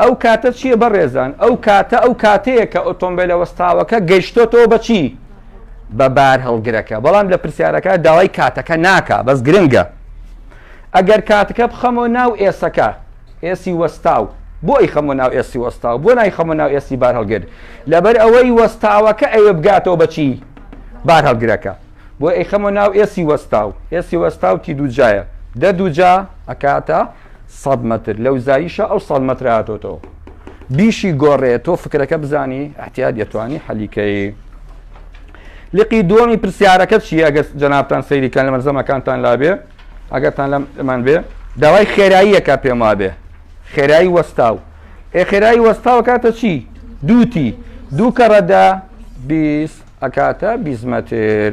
ئەو کاتە چیە بەڕێزان؟ ئەو کاتە ئەو کاتەیە کە ئۆتۆمبێلە وەستاوەکە گەیشتۆتەوە بە چی؟ بە بارهەڵگرەکە بەڵام لە پرسیارەکە داوای کاتەکە ناکا بەس گرنگە ئەگەر کاتەکە بخەمەوە ناو ئێسەکە ئێسی وەستاو بۆ ئەیخەمەوە ناو ئێسی وەستاو بۆ نایخەمە ناو ئێسی بارهەڵگر لەبەر ئەوەی وەستاوەکە ئەوێ بگاتەوە بەچی بارهەڵگرەکە بۆ ئەیخەمە ناو ئێسی وەستاو ئێسی وەستاو تی دووجایە دە دووجا ئەکاتە سەد مەتر لەو زاییشە ئەو سەد مەترە هاتۆتەوە بیشی گۆڕێ تۆ فکرەکە بزانی ئەحتیاد دەتوانی حەلیکەی لقی دووەمی پرسیارەکە چی ئەگەر جەنابان سەیریکان لە مەرزەمەکانتان لابێ ئەگەرتان لەم ئەمان بێ داوای خێراییەکە پێم وابێ خێرایی وەستاو ئێ خێرایی وەستاوە کاتە چی دووتی دوو کەڕەدا بیست ئەکاتە بیزمەتر